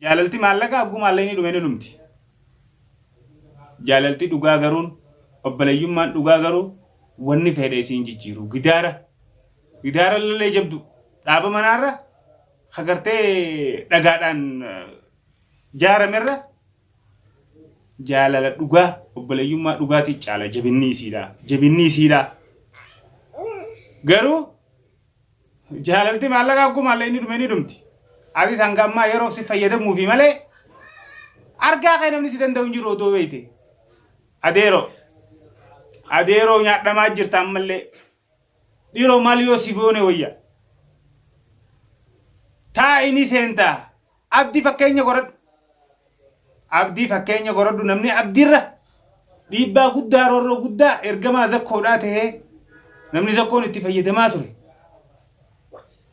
Jaalalti maallaqa hagguu maallaqni dhume ni dhumti. Jaalalti dhugaa garuun obbaleeyyummaan dhugaa garuu wanni fedhe isiin jijjiiru gidaara gidaara lalee jabdu dhaaba manaarra hagartee dhagaadhaan jaaramerra jaalala dhugaa obbaleeyyummaa dhugaatii caala jabinni isiidha jabinni isiidha garuu Jaalalti maallaqa akkuma illee inni dhume ni dhumti. Atis hanga ammaa yeroof si fayyadamuufi malee argaa kee namni si danda'u hin jiru otoo beekte. Adeeroo. Adeeroo nyaadhamaa jirta ammallee. Dhiroo maal yoo si goone wayya. Taa'ini seentaa. Abdi fakkeenya goradhu. Abdii fakkeenya goradhu namni abdiirra dhiibbaa guddaa roorroo guddaa ergamaa zakkoodhaa ta'ee namni zakkoon itti fayyadamaa ture.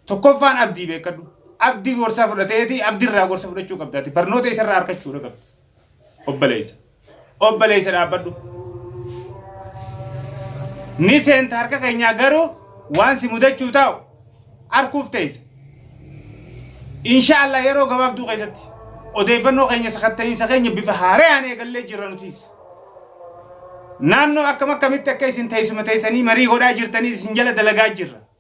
Tokkoffaan abdii beekadhu. Abdii gorsaa fudhateeti abdirraa gorsa fudhachuu qabdaati. Barnoota isarraa harkachuudha qabda. Obbaleessa. Obboleessa dhaabbadhu. Ni seenta harka keenyaa garuu waan si mudachuu taa'u arkuuf teessa. Inshaallah yeroo gabaabduu keessatti odeeffannoo keenya sakatta'iinsa keenya bifa haarayaan eegallee jirra nutiis. Naannoo akkam akkamitti akka isin teessuma teessanii marii godhaa jirtaniis isin jala dalagaa jirra.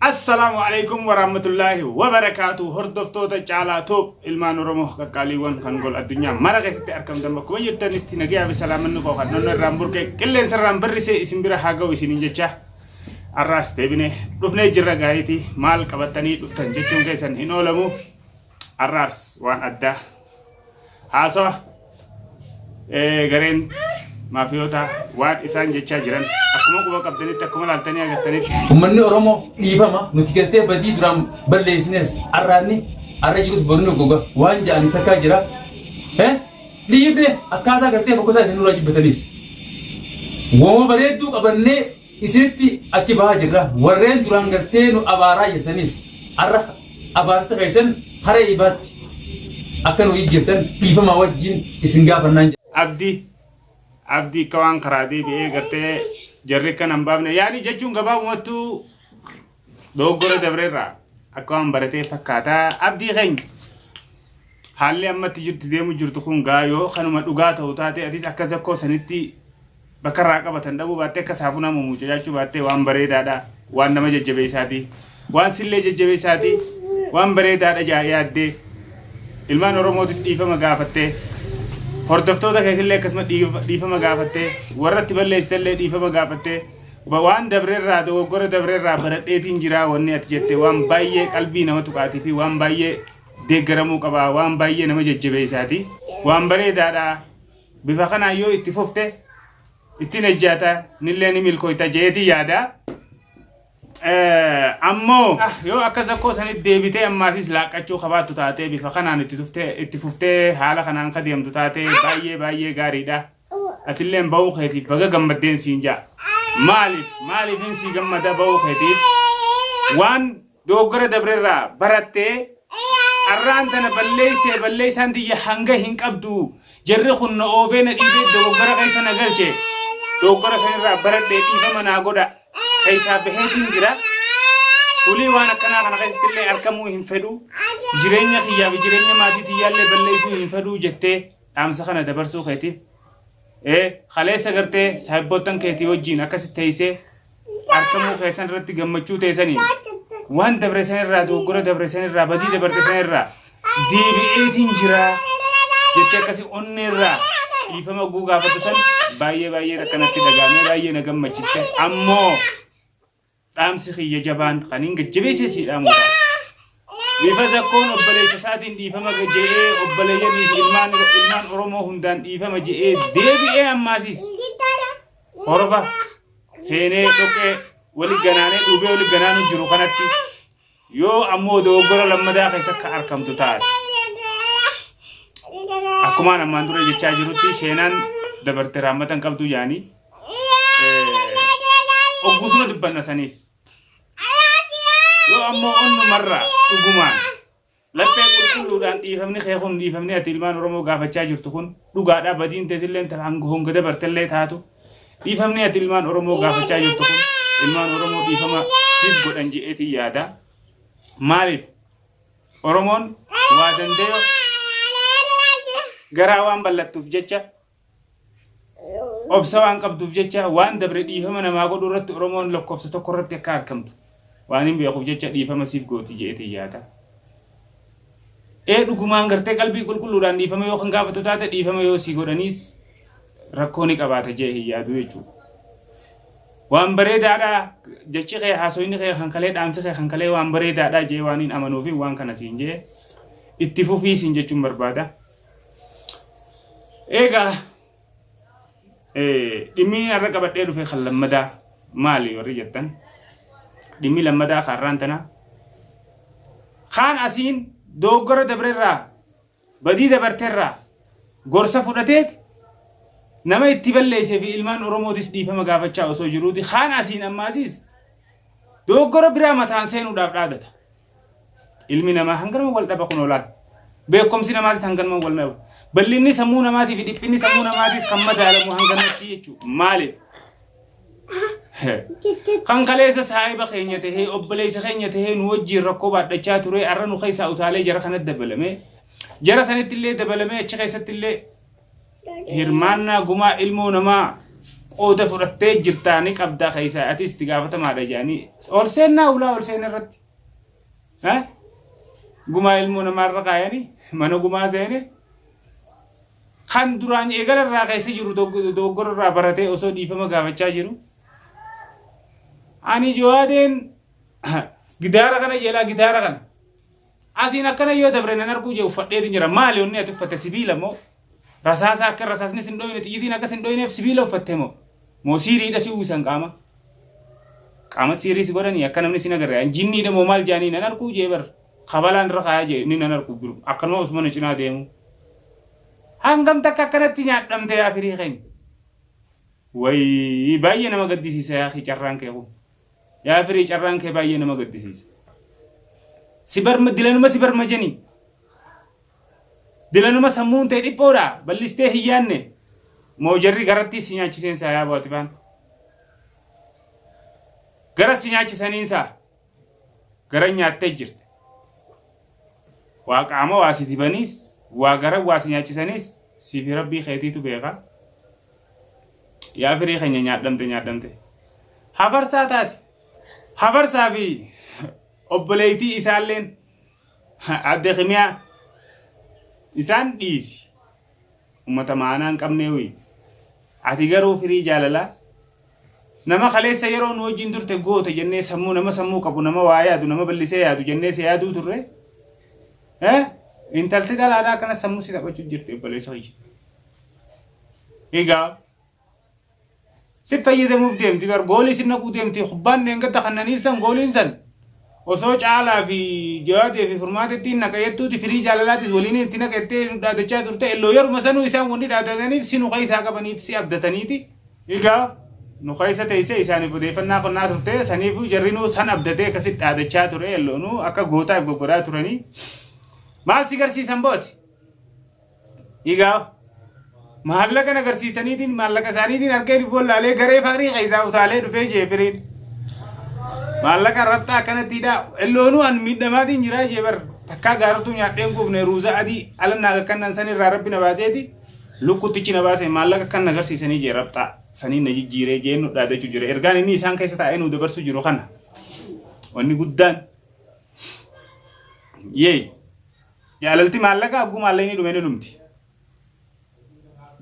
Assalaamu Aleykum Waraamatullaahi Wabarakaatu Hordoftoota Caalaa Tuub Ilmaan Oromoo Qaqqaaliiwwan kan gol addunyaa mara keessatti argamtan bakkuma jirtanitti nagaya fi salaamanni koo kan nonna irraan burqee qilleensa irraan birrisee isin bira haa ga'u isiniin jecha arraas deebinee dhufnee jirra gaariitii maal qabattanii dhuftan jechuun keessan hin oolamu arraas waan addaa Haasawa eh, gareen maafiyootaa waan isaan jechaa jiran akkuma quba qabdanitti akkuma laaltanii agartanitti Uummanni Oromoo dhiifama nuti galtee badii duraan balleessines arraanni arra jirus borni goga waan ja'an takkaa jira. Eh? Dhiifne akkaataa galtee fokkotaa isin nurraa jibbatanis. Woma bareedduu qabannee isinitti achi bahaa jirra warreen duraan gartee nu abaaraa jirtanis har'a abaarsa keessan hara ibaatti akka nu ijjirtan dhiifamaa wajjin isin gaafannaan jedha. Abdi abdi akka waan karaa deebi'ee gartee jarri akka nan baafne yaani jechuun gabaabumattuu Dogoggora dabreerraa akka waan baratee fakkaata. Abdii keenya haalli ammatti jirti deemu jirtu kun gaa yoo kanuma dhugaa ta'u taate atis akka zakkoo sanitti bakka irraa qabatan dhabuu baattee akka saafunaa mumuucacaachuu baattee waan bareedaadha waan nama jajjabeessaati waan sillee jajjabeessaati waan bareedaadha jaa yaaddee ilmaan oromootis dhiifama gaafattee hordoftoota keetillee akkasuma dhiif- dhiifama gaafattee warratti balleessitallee dhiifama gaafattee waan dabrerraa dogoggora dabrerraa baradheetiin jiraa wanni ati jette waan baay'ee qalbii nama tuqaatii fi waan baay'ee deeggaramuu qabaa waan baay'ee nama jajjabeessaati waan bareedaadha bifa kanaan yoo itti fufte ittiin ejjaata nillee ni milkooyta jeetii yaada. Ammoo yoo akka zakkoo sanitti deebitee ammaasis laaqqachuu qabaattu taatee bifa kanaan itti fuftee haala kanaan ka deemtu taatee baay'ee baay'ee gaariidha. Atilleen ba'uu keetiif baga gammaddeen siin ja'a. Maaliif? Maaliifin sii gammada ba'uu keetiif? Waan dogoggora dabrerraa barattee arraan tana balleessee balleessaan tiyya hanga hin qabdu. Jarri kun na oofee na dhiibee dogoggora keessa na galche. Dogoggora sanirraa baradhee dhiifama naa godha. Keessaa baheetiin jira. Fulii waan akkanaa kana keessatti illee argamuu hin fedhu. Jireenya kiyyaa fi jireenya maatii tiyyaallee balleessuu hin fedhu jettee dhaamsa kana dabarsuu keetiif ee kaleessa gartee saahibboottan keetii wajjiin akkasitti teessee argamuu keessan irratti gammachuu teessaniin waan dabre san irraa dogoggora dabre san irraa badii dabarte san irraa deebi'eetiin jira jettee akkasii onnee irraa dhiifama oguu gaafatu san baay'ee baay'ee akkanatti dhagaamee baay'ee na gammachiste ammoo Dhaamsi kiyya jabaan kan hin gajjabeesse sii dhaamuudha. Bifa zakkoon obboleessa isaatiin dhiifama je'ee obboleeyyanii fi ilmaan ilmaan Oromoo hundaan dhiifama je'ee deebi'ee ammaasis horova seenee dhoqee wali ganaanee dhuubee wali ganaanuu jiru kanatti Yoo ammoo dogoggora lammadaa keessa ka arkamtu taate. Akkumaan ammaan dura jechaa jirutti sheenaan dabarte raammatan qabduu jaanii. Oggusuma dubbanna saniis. Yoo ammoo onnumarraa dhugumaan laphee qulqulluudhaan dhiifamni kee kun dhiifamni ati ilmaan Oromoo gaafachaa jirtu kun dhugaadhaa badiin teetillee hanga honga dabartellee taatu. Dhiifamni ati ilmaan Oromoo gaafachaa jirtu kun ilmaan Oromoo dhiifama siif godhan je'eetiin yaada. Maaliif? Oromoon waa danda'e garaa waan bal'attuuf jecha obsa waan qabduuf jecha waan dabre dhiifama namaa godhuu irratti Oromoon lakkoofsa tokko irratti akka argamtu Waanin beekuuf jecha dhiifama siif gooti je'eetiin yaada. Ee dhugumaan gartee qalbii qulqulluudhaan dhiifama yoo kan gaafatu taate dhiifama yoo sii godhaniis rakkoo ni qabaata je'e hin yaadu jechuudha. Waan bareedaadha jechi kee haasoyni kee kan kalee dhaamsi kee kan kalee waan bareedaadha je'e waan hin amanuufi waan kana siin je'e itti fufii siin jechuun barbaada. Eegaa Dhimmi har'a qabadhee dhufe kan lammadaa maali warri jettan dhimmi lammadaa kaarraan tana kaan asiin dooggora dabrerraa badii dabarterraa gorsa fudhateet nama itti balleessee fi ilmaan oromootis dhiifama gaafachaa osoo jiruuti kaan asiin ammaasiis dooggora biraa mataan seenuudhaaf dhaadata. Ilmi namaa hanganuma wal dhaba kunoo laal. Beekomsi namaatis hanganuma wal dhaba. Bal'inni sammuu namaatii fi dhiphinni sammuu namaatis kan madaalamu hanganumatti jechuudha. Maaliif? Kan kaleessa saahiba keenya tahee obboleessa keenya tahee nu wajjin rakkoo baadhachaa ture har'a nu keessaa utaalee jara kanatti dabalame. Jara sanitti illee dabalamee achi keessatti illee hirmaannaa gumaa ilmoo namaa qooda fudhattee jirtaa ni qabdaa keessaa ati itti gaafatamaadha jedhanii ol seennaa ulaa ol seenaa irratti ha? gumaa ilmoo namaa irra kaayanii mana gumaa seene kan duraan eegala irraa keessa jiru dogg- dogoggora irraa baratee osoo dhiifama gaafachaa jiru ani jawaadeen gidaara kana jedhaa gidaara kana Asiin akkana yoo dabre nan arguu jee uffadheetin jira. Maali wanni ati uffatte sibiila moo? Rasaasa akka rasaasni sin dhoyne xiyyitiin akka sin dhoyneef sibiila uffatte moo? Moo siiriidha si uwwisan qaama? Qaama siirii si godhanii akka namni sin agarre an jinniidha moo maal jaanii nan arguu jee bar. Kabalaan irra kaayaa jee inni nan arguu biru. Akkanuma osuma na cinaa deemu. Hangam takka akkanatti nyaadhamte yaa firii keenya. Wayii baay'ee nama gaddisiisa yaa kee carraan kee kun. Yaa firii carraan kee baay'ee nama gaddisiisa. Si barma dilanuma si barma jeni. Dilanuma sammuun ta'e dhiphoodha ballistee hin yaanne. Moo jarri garattii si nyaachiseen saa yaa baatifaan. Gara si nyaachisaniin saa. Gara nyaattee jirte. Waa qaama waa si dibaniis waa gara waa si nyaachisaniis siif rabbii keetiitu beeka. Yaa firii keenya nyaadhamte nyaadhamte. Hafarsaa taate. Hafarsaa fi obboleeytii isaalleen adde kimiyaa isaan dhiisi. Uummata maanaa hin qabnee hoyi. Ati garuu firii jaalalaa nama kaleessa yeroo nu wajjin turte goota jennee sammuu nama sammuu qabu nama waa yaadu nama ballisee yaadu jennee si yaaduu turre. Eh? Intalti dhalaadhaa akkana sammuu si taphachuu jirti obboleessa kiyya. Egaa si fayyadamuuf deemti bar goolii si naquu deemti kubbaan dheengadda kannaniif san gooliin san osoo caalaa fi jawaadee fi furmaata ittiin naqa jettuuti firii jaalalaatis waliin itti naqa jettee nu dhaadachaa turte illoo yeruma sanuu isaan wanni dhaadataniif si nu keessaa qabaniif si abdataniiti. Egaa nu keessa teessee isaaniif odeeffannaa qonnaa turte saniifuu jarrinuu san abdatee akkasitti dhaadachaa ture illoonuu akka gootaaf goggodhaa turanii maal si garsiisan booti? Egaa maallaqa agarsiisaniitiin maallaqa isaaniitiin harka hin wallaalee garee faarii keessaa utaalee dhufee ishee firiin. Maallaqa rabxaa akkanatti hidhaa elloonuu an miidhamaatiin jiraa ishee bar takkaa gaaratuu nyaadheen kuufne ruuzaa adii ala naa akkannan san irraa rabbi na baaseeti lukkuttichi na baase maallaqa akkan agarsiisanii jee rabxaa sanii na jijjiiree jeen nu dhaadachuu jira ergaan inni isaan keessa taa'ee nu dabarsuu jiru kana wanni guddaan yee. Jaalalti maallaqa hagguu maallaqni dhume ni dhumti.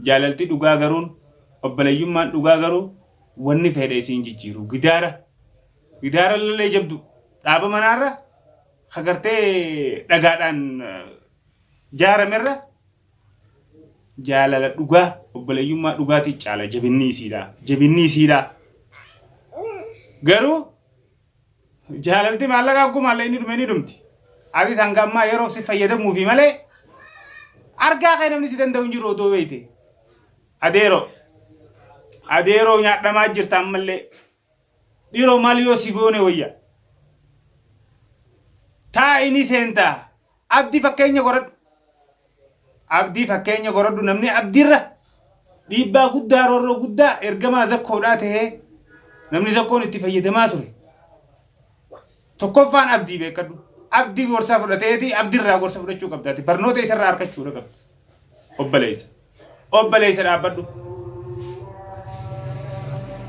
Jaalalti dhugaa garuun obboleeyyummaan dhugaa garuu wanni fedhe isiin jijjiiru. Gidaara gidaara illee jabdu dhaaba manaarra hagartee dhagaadhaan jaaramerra jaalala dhugaa obboleeyyummaa dhugaatii caala jabinni isiidha. Jabinni isiidha. Garuu Jaalalti maallaqa akkuma illee ni dhume ni dhumti. Atis hanga ammaa yeroof si fayyadamuufi malee argaa kee namni si danda'u hin jiru odoo beeyte. Adeeroo. Adeeroo nyaadhamaa jirta ammallee. Dhiroo maal yoo si goone wayya. Taa'ini seentaa. Abdi fakkeenya goradhu Abdi fakkeenya goradhu namni Abdirra dhiibbaa guddaa roorroo guddaa ergamaa zakkoodhaa tahee namni zakkoon itti fayyadamaa ture tokkoffaan Abdii beekadhu Abdi gorsa fudhateeti Abdirraa gorsa fudhachuu qabdaati barnoota isarraa harkachuudha qabda obbaleessa. Obboleessa dhaabbadhu.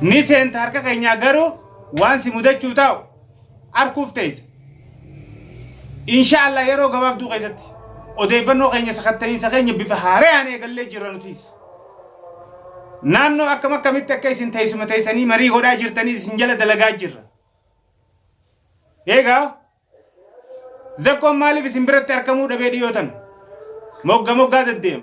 Ni seenta harka keenyaa garuu waan si mudachuu taa'u arkuuf teessa. Inshaallah yeroo gabaabduu keessatti odeeffannoo keenya sakatta'iinsa keenya bifa haarayaan eegallee jirra nutiis. Naannoo akkam akkamitti akka isin teessuma teessanii marii godhaa jirtanii isin jala dalagaa jirra. Eegaa zakkoon maaliif isin biratti argamuu dhabee dhiyootan mogga moggaa deddeema.